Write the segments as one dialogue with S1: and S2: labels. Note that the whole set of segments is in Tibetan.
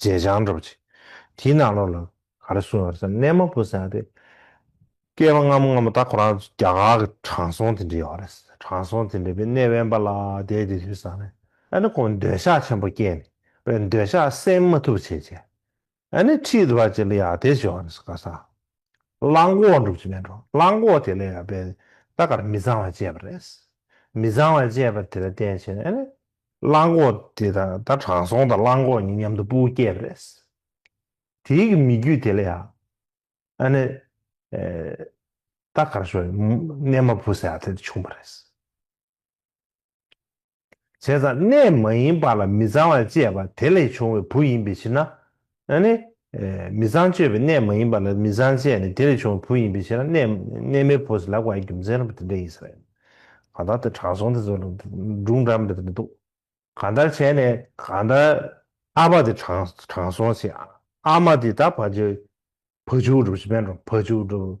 S1: བརྗེད་བྱང་སྒྲུབ་ཅིག། དེའི་ནང་ལོགས་ལ་ག་རེ་གསུངས་ཡོད་རེད་ཟེར་ན་གནས་མ་བུ་ཟེར་ཡང་དེ། སྐྱེས་པ་སྔ་མོ་སྔ་མོ་ད་ཁོ་རང་རྒྱ་གར་གྱི་དྲང་སྲོང་དེ་འདྲས་ཡོད་རེད་ཟེར་ན་དྲང་སྲོང་དེ་འདྲས་པའི་གནས་དབེན་པ་ལ་བསྡད་དེ་དུས་སང་ནས་ཨ་ནི་ཁོང་འདོད་ཆགས་ཆེན་པོ་སྐྱེས་ནས་པའི་འདོད་ཆགས་སེལ་མ་ཐུབ་བྱས་རྗེས་ཨ་ནི་ཁྲིད་བར་བྱེད་ལ་ཡ་དེ་བྱོས་རེད་ཟེར་ག་ས་གླང་གོག་འགྲུབ་ཀྱི་མེད་འགྲོ་གླང་གོག་དེ་ལས་ཡ་པའི་ད་ག་རེ་མི་ཚང་བ་སྤྱད་པ་རེད་ཟེར་མི་ཚང་བ་སྤྱད་པ་དེ་ལ་བརྟེན་བྱས་ནས་ཨ་ནི་གླང་གོག་དེ་དང་ད་དྲང་སྲོང་དང་གླང་གོག་གཉིས་མཉམ་དུ་སྤུ་བོ་སྐྱེས་པ་རེད། དེའི་གི་མི་རྒྱུད་དེ་ལ་ཡང། ཨ་ནི། ད་གར་ཤོར་ཡོད། གནས་མ་བུ་ཟེར་བ་དེ་དང་ཆུང་བ་རེད། བྱས་ཙང་གནས་མ་ཡིན་པ་ལ་མི་ཚང་བ་བཅས་པ་དེ་ལས་བྱུང་བའི་བུ་ཡིན་པའི་ཕྱིར་ན། ན་ནི། མི་བཟང་སྤྱོད་པའི་གནས་མ་ཡིན་པ་ལ་མི་བཟང་སྤྱད་ནས་དེ་ལས་བྱུང་བའི་བུ་ཡིན་པའི་ཕྱིར་ན་གནས་མའི་བུ་ཟེར་ལ་བ་ཡི་རྒྱུ་མཚན་རམ་པ་དེ་འདྲ་ཡིན་ས་རེད། གང་ལྟར་དེ་དྲང་སྲོང་དེ་ཚོ་ལ་སྒྲུང་འདྲ་མི་དེ་འདྲ་འདུག་གང་ལྟར་བྱས་ནས་གང་ལྟར། ཨ་ཕ་དེ་དྲང་སྲོང་ཆེ་ཨ་མ་དེ་ད་བ་ཇོ་བ་ཇོ་བ་སྒྲུབ་བྱེད་པས་འགྲོ་བ་ཇོ་བ་སྒྲུབ།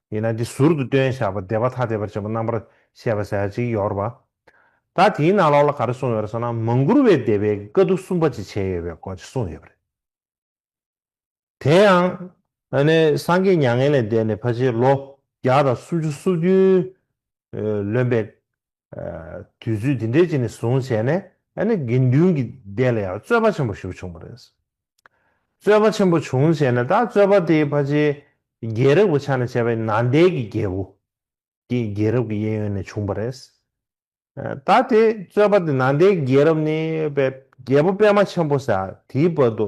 S1: ཡིན་ན་འདི་ཟུར་དུ་སྟོན་བཞག་པ་བདེ་བ་ཐ་དད་པར་བྱེད་པོ་རྣམ་པར་ཤེས་པ་ཟད་ཅིག་ཡོར་བ། ད་དེའི་ནང་ལོགས་ལ་ག་རེ་གསུངས་ཡོད་རེད་ཟེར་ན་མ་མགུར་བའི་བདེ་བའི་དཀའ་སྡུག་གསུམ་པ་ཅིག་བྱས་ཡོད་པའི་སྐོར་ཅིག་གསུངས་ཡོད་པ་རེད། དེ་ཡང། ཨ་ནེ་སངས་རྒྱས་མྱ་ངན་ལས་འདས་ནས་ཕ་ཕྱིར་ལོ་བརྒྱ་དང་སུམ་ཅུ་སོ་བདུན་ལོན་པའི་དུས་ཚོད་འདི་འདྲའི་རྗེས་ནས་བཟུང་བྱས་ནས་ཨ་ནེ་དགེ་འདུན་གྱི་སྡེ་ལ་ཡང་རྩོད་པ་ཆེན་པོ་ཞིག་བྱུང་བ་རེད། རྩོད་པ་ཆེན་པོ་བྱུང་བྱས་ནས་ད་རྩོད་པ་དེའི་ཕ་ཆེ་རྒྱལ་རབས་ཀྱི་ཆ་ནས་བྱས་པའི་ནཱ་དའི་གི་རྒྱལ་པོ་དེ་རྒྱལ་རབས་ཀྱི་གཡས་གཡོན་ནས་བྱུང་བ་རེད། ད་དེ་རྩོད་པ་དེ་ནཱ་དའི་རྒྱལ་རབས་ནི་རྒྱལ་པོ་པདྨ་ཆེན་པོ་ཟེར་དེའི་བར་དུ་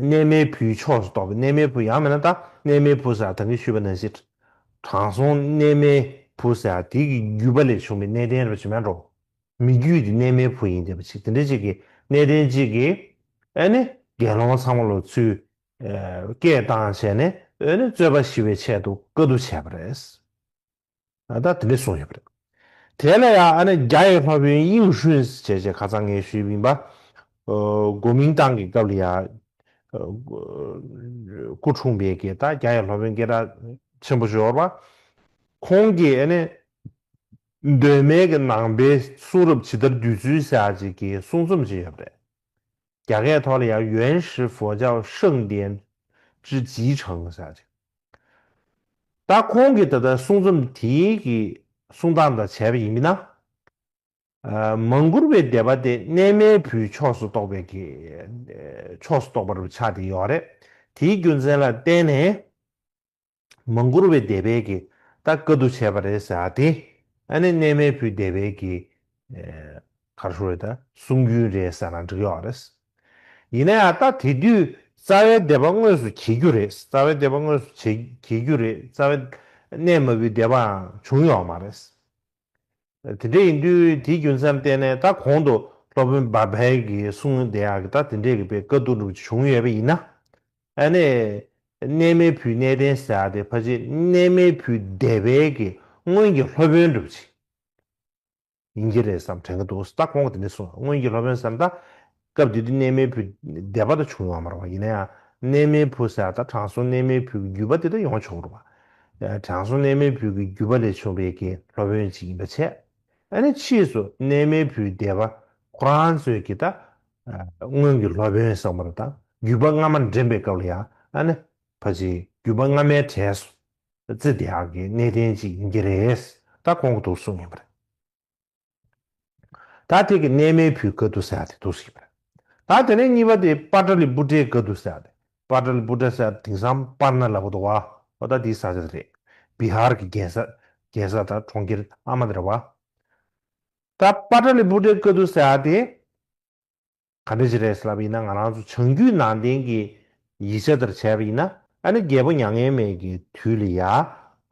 S1: གནས་མལ་བུའི་ཕྱོགས་སུ་གཏོགས་པའི་གནས་མལ་བུ་ཡང་མེད་ན་དང་གནས་མལ་བུ་ཟེར་བ་དང་གིས་ཞུས་པ་ན་ཞེས། དྲང་སྲོང་གནས་མལ་བུ་ཟེར་བ་དེ་གི་བརྒྱུད་པ་ལས་བྱུང་བའི་གནས་བརྟན་རབ་བྱེད་མ་འགྲོ། མི་བརྒྱུད་དེ་གནས་མལ་བུ་ཡིན་བསྡད་པ་ཅིག་དེ་འདྲ་ཅིག་གིས་གནས་བརྟན་ཅིག་གིས། ཨེ་ནི་དགེ་སློང་ཚང་མ་ལོ་ཚུལ། སྐད་བཏང་བྱས་ནས་ཨོ་ནི་རྩོད་པ་ཞི་བའི་ཆེད་དུ་བཀའ་བསྡུ་བྱས་པ་རེད། ད་ལྟ་དེ་འདྲས་སོང་ཡོད་པ་རེད། དེ་ལ་ཡང་ཨ་ནེ་རྒྱ་ཡི་ལྷ་བོན་དབྱིང་ཧྲུན་ཞེས་བྱས་ཁ་ཚང་ངེས་ཤུལ་གླིང་པ། གོ་མིང་ཏང་གི་སྐབས་ལ་ཡང། སྐུ་འཁྲུངས་པའི་དགེ་རྟག་རྒྱ་ཡི་ལྷ་བོན་སྐད་གྲགས་ཆེན་པོ་ཤོར་བ། ཁོང་གིས་ཨ་ནེ་གདོད་མའི་གི་ནང་པའི་གསུང་རབ་ཇི་ལྟར་བསྡུས་ཚུལ་བཞག་ཅིག་གི་གསུང་རྩོམ་བྱས་ཡོད་པ་རེད། རྒྱ་སྐད་ཐོག་ལ་ཡང་ཡོན་ཧྲི་ཧྥོ་ཅའོ་ཧྲེང་ལྡན་ཀྲི་ལྗིས་ཁྲང་ཞེས་བྱ་ཞིང། ད་ཁོང་གིས་ད་ལྟ་གསུང་རྩོམ་དེ་གི་གསུང་སྟངས་དང་བྱས་པ་ཡིན་མིན་ན། མང་གུར་བའི་སྡེ་པ་དེ་གནས་མལ་བུའི་ཕྱོགས་སུ་གཏོགས་པའི་ཕྱོགས་སུ་གཏོགས་པ་རུ་ཆགས་ཏེ་ཡོད་རེད། དེའི་རྒྱུ་མཚན་ལ་བརྟེན་ནས། མ་འགུར་བའི་སྡེ་བས་ཀྱིས་ད་བཀའ་བསྡུ་བྱས་པ་རེད་ཟེར་དེ་ཨ་ནེ་གནས་མལ་བུའི་སྡེ་བས་ཀྱིས་གར་ཧྲུལ་རེད་ད་གསུང་རྒྱུན་རེད་ཟེར་ན་འགྲིག་ཡོད་རེད། ཡིན་ན་ཡང་ད་དེ་དུས་རྩ་བའི་སྡེ་པ་དངོས་སུ་གྱེས་རྒྱུ་རེད་རྩ་བའི་སྡེ་པ་དངོས་སུ་གྱེས་རྒྱུ་རེད་རྩ་བའི་གནས་མལ་བུའི་སྡེ་པའང་བྱུང་ཡོད་མ་རེད། དེ་འདྲ་ཡིན་དུས་དེའི་རྒྱུ་མཚན་བསྟན་ནས་ད་གོང་དུ་སློབ་དཔོན་བཱ་བཱལ་གྱིས་གསུང་བདེ་ཡག་གི་ད་དེ་འདྲའི་རིགས་པའི་དཀའ་སྡུག་འགྲུབ་ཅིག་བྱུང་ཡོད་པ་ཡིན་ན། ཨ་ནེ། གནས་མལ་བུའི་གནས་བརྟན་ཟེར་བ་དེ་ཕ་ཆེ་གནས་མལ་བུའི་བདེ་བས་ཀྱི་སྔོན་གྱི་སློབ་དཔོན་འགྲུབ་ཅིག་ཡིན་གྱི་རེད་བསམ་དྲན་གྱི་འདུག་ད་གོང་གི་དེ་འདྲ་གསུང་ཡོད་སྔོན་གྱི་སློབ་དཔོན་བསམ་ད་སྐབས་དེ་དུས་གནས་མལ་བུ་སྡེ་པ་དང་བྱུང་ཡོང་མ་རུང་བ་ཡིན་ན་ཡང་གནས་མལ་བུ་ཟེར་བ་དང་དྲང་སྲོང་གནས་མལ་བུ་གི་བརྒྱུད་པ་དེ་དག་ཡོང་ཆོག་མ་རུང་བ། དྲང་སྲོང་གནས་མལ་བུ་གི་བརྒྱུད་པ་ལས་བྱུང་བའི་དགེ་སློབ་བོན་ཅིག་ཡིན་པ་འཆད། ཨ་ནི་ཕྱིས་སུ་གནས་མལ་བུ་སྡེ་པ་ཁོ་རང་ཚོས་ཀྱིས་ད་སྔོན་གྱི་སློབ་བོན་བསགས་མ་རུང་དང་བརྒྱུད་པ་སྔ་མ་འདྲེན་པའི་སྐབས་ལ་ཡང་ཨ་ནི་ཕ་ཆེའི་བརྒྱུད་པ་སྔ་མའི་གྲས་སུ་ཙི་དེའང་གི་གནས་བརྟན་ཅིག་ཡིན་གྱི་རེད་ད་གོང་གི་དུག་གསུམ་ཡིན་པ་རེད། ད་དེ་གི་གནས་མལ་བུའི་ག་དུ་སེ་ཨ་དེ་དུ་སི་པར། ད་དེ་ནས་གཉིས་པ་དེ་པར་ཏྲ་ལི་པུ་ཏྲའི་ག་དུ་སེ་ཨ་དེ་པར་ཏྲ་ལི་པུ་ཏྲ་སེ་ཨ་དེང་སང་པར་ན་ལ་བོ་དོ་བ་བ་ད་དེའི་ས་ཆ་དེ་རེད་བི་ཧར་གི་རྒྱལ་ས་རྒྱལ་ས་དང་གྲོང་ཁྱེར་ཨ་མ་དེ་ར་བ། ད་པར་ཏྲ་ལི་པུ་ཏྲའི་ག་དུ་སེ་ཨ་དེ། ག་འདྲ་ཞིག་རེད་ཟེར་ལབ་ཡིན་ན་ང་རང་ཚོ་བྱང་རྒྱུད་ནང་བསྟན་གྱི་ཡིག་ཆ་དེར་བྱས་པ་ཡིན་ན་ཨ་ནི་རྒྱལ་པོ་མྱ་ངན་མེད་ཀྱི་དུས་ལི་ཡ་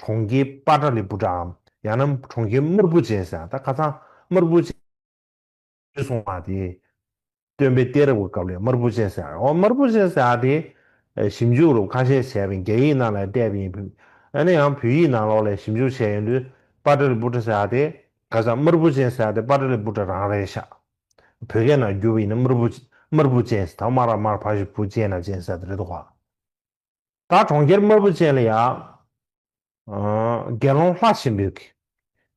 S1: གྲོང་ཁྱེར་པ་ཏྲ་ལི་པུ་ཏྲའམ་ཡང་ན་གྲོང་ཁྱེར་དམར་པོ་ཅན་ཟེར་ཡང་ད་ག་ཚང་དམར་པོ་ཅན་ཡོད་སོང་བ་དེ་སྟོན་པའི་གཏེར་རབས་ཀྱི་སྐབས་ལས་དམར་པོ་ཅན་ཟེར་ཡང་འོ་དམར་པོ་ཅན་ཟེར་དེ་ཞིབ་འཇུག་རུབ་ཁ་ཤས་བྱས་པའི་རྒྱ་ཡིག་ནང་ལས་བལྟས་པ་ཡིན་ཕུད་ཨ་ནི་ཡང་བོད་ཡིག་ནང་ལོགས་ལས་ཞིབ་འཇུག་བྱས་ཡོང་དུས་པ་ཏྲ་ལི་པུ་ཏྲ་ཟེར་དེ་ག་ཚང་དམར་པོ་ཅན་ཟེར་དེ་པ་ཏྲ་ལི་པུ་ཏྲ་རང་རེད་ཤག་བོད་སྐད་ནང་བསྒྱུར་བ་ཡིན་ན་དམར་པོ། དམར་པོ་ཅན་ཟེར་ད་དམར་ལ་དམར་ཕ་ཞེས་པོ་ཅན་ལ་ཅན་ཟེར་ད་རེད་དོ། ད་གྲོང་ཁྱེར་དམར་པོ་ཅན་ལ་ཡ། དགེ་སློང་ལྷ་ཆེན་པོའི་གི།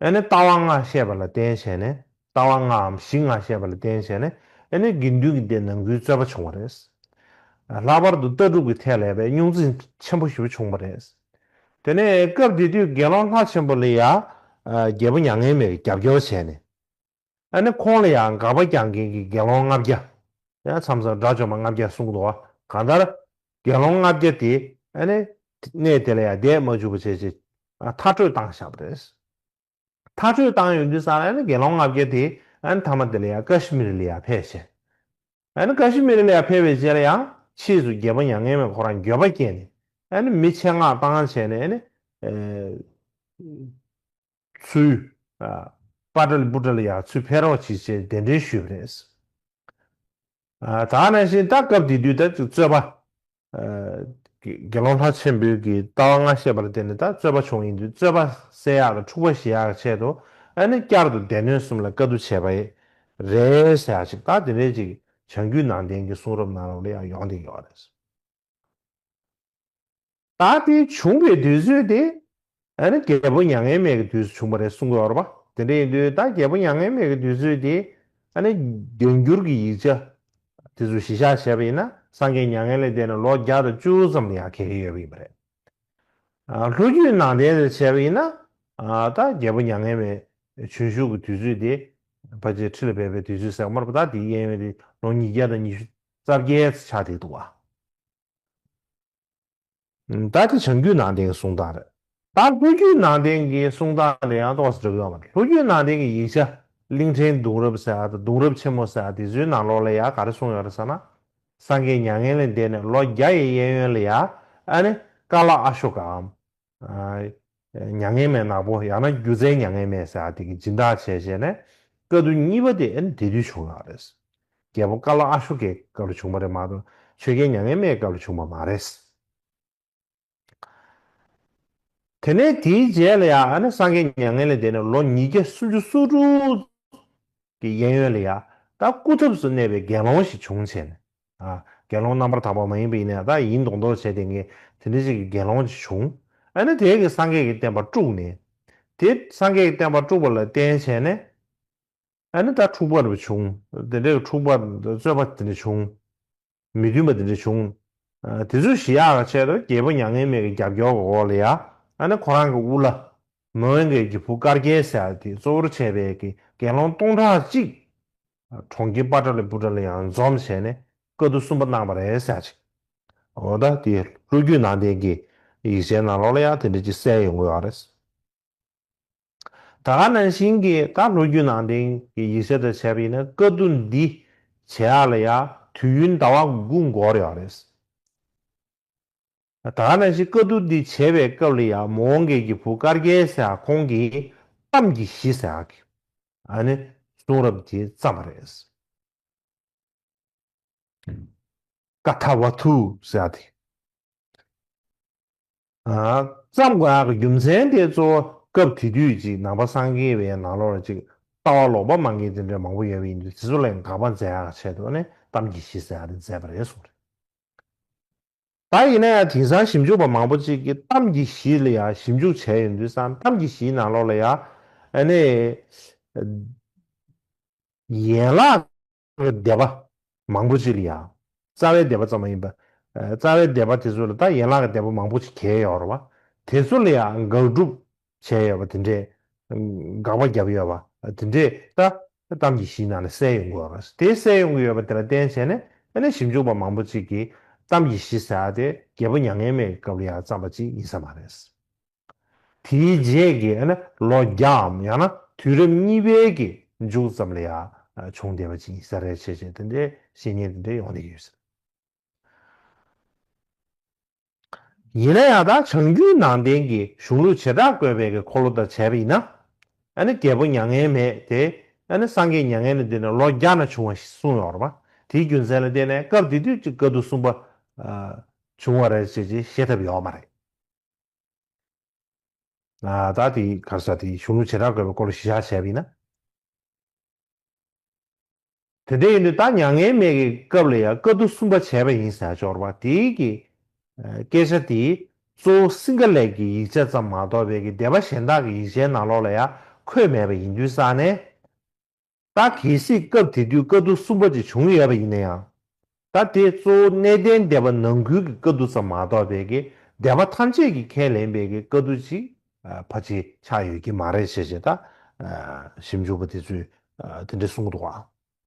S1: ཨེ་ནི་ལྟ་བ་ལྔ་བཤད་པ་ལ་བརྟེན་བྱས་ནས་ལྟ་བ་ལྔའམ་གཞི་ལྔ་བཤད་པ་ལ་བརྟེན་བྱས་ནས་ཨེ་ནི་དགེ་འདུན་གྱི་སྡེ་ནང་ཁུལ་རྩོད་པ་བྱུང་བ་རེད། ལྷག་པར་དུ་ལྟ་གྲུབ་ཀྱི་ཐད་ལ་ཡ་བའི་རྙོག་འཛིང་ཆེན་པོ་ཞིག་པོ་བྱུང་བ་རེད། དེ་ནས་སྐབས་དེ་དུས་དགེ་སློང་ལྷ་ཆེན་པོ་ལ་ཡ། རྒྱལ་པོ་མྱ་ངན་མེད་ཀྱི་རྒྱབ་སྐྱོར་བྱས་ནས། ཨ་ནི་ཁོང་ལ་ཡང་དགག་པ་རྒྱག་མཁན་གྱི་དགེ་སློང་ལྔ་བརྒྱ། མཚམས་སུ་དགྲ་བཅོམ་པ་ལྔ་བརྒྱ་གསུངས་འདུག་གང་ལྟར། དགེ་སློང་ལྔ་བརྒྱ་དེས་ཨ་ནི་གནས་དེ་ལ་ཡང་བསྡད་མ་བཅུག་པ་བྱས་རྗེས། མཐར་སྤྲོད་བཏང་བཞག་པ་རེད། མཐར་སྤྲོད་བཏང་ཡོང་དུས་སང་ལ་ཨ་ནི་དགེ་སློང་ལྔ་བརྒྱ་དེས་ཨ་ནི་མཐའ་མ་དེ་ལ་ཡང་ཀ་ཤི་མི་རི་ལ་ཡང་ཕེབས་བྱས། ཨ་ནི་ཀ་ཤི་མི་རི་ལ་ཡང་ཕེབས་པའི་རྗེས་ལ་ཡང་ཕྱིས་སུ་རྒྱལ་པོ་མྱ་ངན་མས་ཁོ་རང་འགྱོད་པ་སྐྱེས་ནས་ཨ་ནི་མི་ཆེད་མངགས་བཏང་བྱས་ནས་ཨ་ནི། ཚུལ། པ་ཀྲལ་པུ་ཀྲལ་ཡག་ཚུལ་ཕེབས་རོགས་བྱེད་ཅེས་གདན་འདྲེན་ཞུས་པ་རེད། ད་ནང་བཞིན་ད་སྐབས་དེ་དུས་ད་ཅིག་རྩོད་པ། དགེ་སློང་ལྷ་ཆེན་པོའི་གི་ལྟ་བ་སྔ་ཤེས་པར་བརྟེན་ནས་ད་རྩོད་པ་བྱུང་ཡིན་དུས་རྩོད་པ་བསལ་ཡག་དང་འཁྲུག་པ་ཞི་ཡག་གི་ཆེད་དུ་ཨ་ནི་བསྐྱར་དུ་སྡེ་སྣོད་གསུམ་ལ་བཀའ་བསྡུ་བྱས་པ་ཡིན་རེད་ཞག་ཅིག་ད་དེ་འདྲའི་ཅིག་བྱང་རྒྱུད་ནང་བསྟན་གྱི་གསུང་རབ་ནང་ལ་ཡང་ཡོང་བསྡད་ཡོད་རེད། ད་དེ་བྱུང་བའི་དུས་ཚོད་དེ། རྒྱལ་པོ་མྱ་ངན་མེད་ཀྱི་དུས་སུ་བྱུང་བ་རེད་གསུང་གི་ཡོད་པ། དེ་འདྲ་ཡིན་དུས་ད་རྒྱལ་པོ་མྱ་ངན་མེད་ཀྱི་དུས་ཚོད་དེ། བརྒྱ་འགྱུར་གྱི་ཡིག་ཆ་དེ་ཚོ་གཞི་བཞག་བྱས་པ་ཡིན་ན་སངས་རྒྱས་མྱ་ངན་ལས་འདས་ནས་ལོ་བརྒྱ་དང་བཅུ་ཙམ་ལ་ཡང་འཁེལ་གྱི་ཡོད་པ་ཡིན་པ་རེད། ལྷོ་རྒྱུད་ནང་བསྟན་དེར་བྱས་པ་ཡིན་ན། ད་རྒྱལ་པོ་མྱ་ངན་མེད་བྱོན་བཞུགས་ཀྱི་དུས་ཚོད་དེ། ཕ་རྗེས་ཁྲི་ལ་བས་པའི་དུས་ཚོད་ཟེར་གི་མ་རེད་པ་ད་དེའི་གཡས་གཡོན་དེ་ལོ་ཉིས་བརྒྱ་དང་ཉི་ཤུ་རྩ་བརྒྱད་ཕྱག་དྲིལ་དུ་བ། ད་ལྟ་བྱང་རྒྱུད་ནང་བསྟན་གྱི་གསུང་སྟངས་རེད། ད་ལྷོ་རྒྱུད་ནང་བསྟན་གྱི་གསུང་སྟངས་དེ་ཡང་ཏོག་སྒྲིག་ཡོད་མ་རེད་ལྷོ་རྒྱུད་ནང་བསྟན་གྱི་ཡིག་ཆ་གླིང་ཕྲན་གདུང་རབས་ཟེར་བ་དང་གདུང་རབས་ཆེན་མོ་ཟེར་བ་དེ་ཚོའི་ནང་ལོག་ལ་ཡང་ག་རེ་གསུང་ཡོད་རེད་ཟེར་ན། སངས་རྒྱས་མྱ་ངན་ལས་འདས་ནས་ལོ་བརྒྱ་ཡི་གཡས་གཡོན་ལ་ཡང་ཨ་ནི་ཀ་ལ་ཨ་ཤོ་ཀ་འམ། མྱ་ངན་མེད་ནག་པོ་ཡང་ན་སྒྱུ་རྩལ་མྱ་ངན་མེད་ཟེར་བ་དེ་གིས་སྦྱིན་བདག་བྱས་བྱས་ནས་བཀའ་བསྡུ་གཉིས་པ་དེ་འདི་དུས་བྱུང་ཡོད་རེད། རྒྱལ་པོ་ཀ་ལ་ཨ་ཤོ་ཀའི་སྐབས་ལ་བྱུང་བ་རེད་མ་གཏོགས་ཆོས་རྒྱལ་མྱ་ངན་མེད་སྐབས་ལ་བྱུང་བ་མ་རེད། དེ་ནས་དེའི་རྗེས་ལ་ཡང་སངས་རྒྱས་མྱ་ངན་ལས་འདས་ནས་ལོ་ཉིས་བརྒྱ་སུམ་ཅུ་སོ་དྲུག་གི་གཡས་གཡོན་ལ་ཡང་ད་སྐུ་ཐབས་སུ་གནས་པའི་དགེ་སློང་ཞིག་བྱུང་བྱས་ནས་དགེ་སློང་རྣམ་པར་དག་པ་མ་ཡིན་པ་ཡིན་ནས་བདག་ཡིན་མདོག་མདོག་བྱས་ཏེ་ངས་དེ་འདི་ཅིག་གི་དགེ་སློང་ཅིག་བྱུང་ཨ་ནི་དེས་ཀྱི་སངས་རྒྱས་ཀྱི་བསྟན་པ་དཀྲུགས་ནས། དེ་སངས་རྒྱས་ཀྱི་བསྟན་པ་དཀྲུགས་པ་ལ་བརྟེན་བྱས་ནས། ཨ་ནི་བདག་འཁྲུགས་པར་བྱུང་དེ་འདྲའི་འཁྲུགས་པར་རྩོད་པ་དེ་འདྲ་བྱུང། མི་མཐུན་པ་དེ་འདྲ་བྱུང། དེ་ཚོའི་གཞི་ཡག་གི་ཆེད་དུ་རྒྱལ་པོ་མྱ་ངན་མེད་ཀྱི་རྒྱབ་སྐྱོར་གྱི་འོག་ལ་ཡ་ཨ་ནི་ཁོ་རང་གི་དབུ་བླ། མོའུ་འགལ་གྱི་བུ་དཀར་རྒྱལ་ཟེར་བ་དེ་གཙོ་བོར་བྱས་པའི་གྱི་དགེ་སློང་སྟོང་ཕྲག་གཅིག་གྲོང་ཁྱེར་པཱ་ཏྲ་ལའི་པུ་ཏྲ་ལ་ཡང་འཛོམས་བྱས་ནས་བཀའ་བསྡུ་གསུམ་པ་གནང་བ་རེད་བསམ་ཅིག། འོ་ད་དེ་ལྷོ་རྒྱུད་ནང་བསྟན་གྱི་ཡིག་ཆའི་ནང་ལོགས་ལ་ཡང་དེ་འདྲ་ཅིག་གསལ་ཡོང་གི་ཨ་རེད། ད་ག་ནང་བཞིན་གྱི་ད་ལྷོ་རྒྱུད་ནང་བསྟན་གྱི་ཡིག་ཆ་དེར་བྱས་པ་ཡིན་ན་བཀའ་བསྡུ་འདི་བྱེད་ཡག་ལ་ཡང་དུས་ཡུན་ཟླ་བ་དགུ་འགོར་ཡོད་རེད། ད་ནང་བཞིན་བཀའ་བསྡུར་འདི་བྱེད་པའི་སྐབས་ལ་ཡང་མོ་འོང་རྒྱལ་གྱི་བུ་དཀར་རྒྱལ་ཟེར་ཨ་ཁོང་གིས་གཏམ་གྱི་གཞི་ཟེར་ཨ་གི་ཨ་ནི་གསུང་རབ་དེ་བརྩམས་པ་རེད། ཀ་ཐ་བ་ཐུ་ཟེར་ཨ་དེ་བརྩམས་དགོས་ཨ་གི་རྒྱུ་མཚན་དེ་གཙོ་བོ་སྐབས་དེ་དུས་ཅིག་ནང་པ་སངས་རྒྱས་པའི་ནང་ལོགས་ལ་ཅིག་ལྟ་བ་ལོག་པ་མང་གི་དེ་འདྲའི་མང་པོ་ཡོད་པ་ཡིན་དུས་དེ་ཚོ་ལ་ཡང་དགག་པ་མཛད་ཨ་གི་ཆེད་དུ་ཨ་ནི་གཏམ་གྱི་གཞི་ཟེར་ཨ་དེ་མཛད་པ་རེད་གསུང་རེད། ད་ཡིན་ན་ཡང་དེང་སང་ཞིབ་འཇུག་པ་མང་པོ་ཅིག་གིས་གཏམ་གྱི་གཞི་ལ་ཡང་ཞིབ་འཇུག་བྱས་ཡོད་འདུག་བསམ་གཏམ་གྱི་གཞིའི་ནང་ལོགས་ལ་ཡང་ཨ་ནི་ཡན་ལག་གི་སྡེ་པ་མང་པོ་ཅིག་ལ་ཡང་རྩ་བའི་སྡེ་པ་ཙམ་མ་ཡིན་པར་རྩ་བའི་སྡེ་པ་དེ་ཚོ་ལ་ད་ཡན་ལག་གི་སྡེ་པ་མང་པོ་ཅིག་གྱེས་ཡོད་རེད་བ་དེ་ཚོ་ལ་ཡང་དགག་སྒྲུབ་བྱས་ཡོད་པ་དེ་འདྲས། དགག་པ་བརྒྱབ་ཡོད་པ་དེ་འདྲས་ད་གཏམ་གྱི་གཞི་ནང་ནས་གསལ་ཡོང་གི་ཡོད་རེད། དེ་གསལ་ཡོང་གི་ཡོད་པ་དེ་ལ་བརྟེན་བྱས་ནས་ཨ་ནེ་ཞིབ་འཇུག་པ་མང་པོ་ཅིག་གིས་གཏམ་གྱི་གཞི་ཟེར་བ་དེ་རྒྱལ་པོ་མྱ་ངན་མེད་ཀྱི་སྐབས་ལ་ཡང་བརྩམས་པ་ཅིག་ཡིན་ས་མ་རེད། དེའི་རྗེས་ཀྱི་ཨ་ནེ་ལོ་བརྒྱའམ་ཡང་ན་དུས་རབས་གཉིས་པའི་གི་མཇུག་ཙམ་ལ་ཡང་བྱུང་བསྡད་པ་ཅིག་ཡིན་ས་རེད་བྱས་བྱས་དེ་འདྲས་བཤད་ཉེས་དེ་འདྲས་ཡོང་བསྡད་ཡོད་སྲིད། ཡིན་ན་ཡང་དག་བྱང་རྒྱུད་ནང་བསྟན་གྱི་གཞུང་ལུགས་བྱེ་བྲག་བཀོད་པའི་གི་འཁོར་ལོ་དང་བྱ་བ་ཡིན་ན། ཨ་ནི་རྒྱལ་པོ་མྱ་ངན་མེད་དེ་ཨ་ནི་སངས་རྒྱས་མྱ་ངན་ལས་འདས་ནས་ལོ་བརྒྱ་ན་བྱུང་བ་ཞིག་གསུངས་ཡོད་རེད་པ་དེའི་རྒྱུ་མཚན་ལ་བརྟེན་ནས་སྐབས་དེ་དུས་ཀྱི་བཀའ་བསྡུ་གསུམ་པ་བྱུང་བ་རེད་ཅེས་བཤད་ཐབས་ཡོད་མ་རེད། ད་དེའི་གར་ས་དེའི་གཞུང་ལུགས་བྱེ་བྲག་བཀོད་པའི་འཁོར་ལོ་བཞི་ཆ་བྱ་བ་ཡིན་ན། དེ་ལྟ་ཡིན་དུས་ད་མྱ་ངན་མེད་ཀྱི་སྐབས་ལ་ཡང་བཀའ་བསྡུ་གསུམ་པ་བྱས་པ་ཡིན་ཟེར་སྦྱོར་བ་དེ་གི་སྐད་ཆ་དེ་གཙོ་བོ་སིངྒ་ལས་ཀྱི་ཡིག་ཆ་ཙམ་མ་གཏོགས་བལ་གྱི་སྡེ་པ་གཞན་དག་གི་ཡིག་ཆའི་ནང་ལོགས་ལ་ཡང་འཁོད་མེད་པ་ཡིན་དུས་ས་ནས། ད་གལ་སྲིད་སྐབས་དེ་དུས་བཀའ་བསྡུ་གསུམ་པ་ཅིག་བྱུང་ཡོད་པ་ཡིན་ན་ཡང། ད་དེ་གཙོ་བོ་གནས་བརྟན་སྡེ་པ་ནང་ཁུལ་གྱི་བཀའ་བསྡུ་ཙམ་མ་གཏོགས་བལ་གྱི་སྡེ་པ་ཐམས་ཅད་ཀྱིས་ཁས་ལེན་བལ་གྱི་བཀའ་བསྡུ་ཅིག་ཕ་ཅིག་ཆགས་ཡོད་ཀྱི་མ་རེད་ཞེས་བྱས། ད་ཞིབ་འཇུག་པ་དེ་ཚོས་དེ་འདྲ་གསུངས་འདུག་ཨང།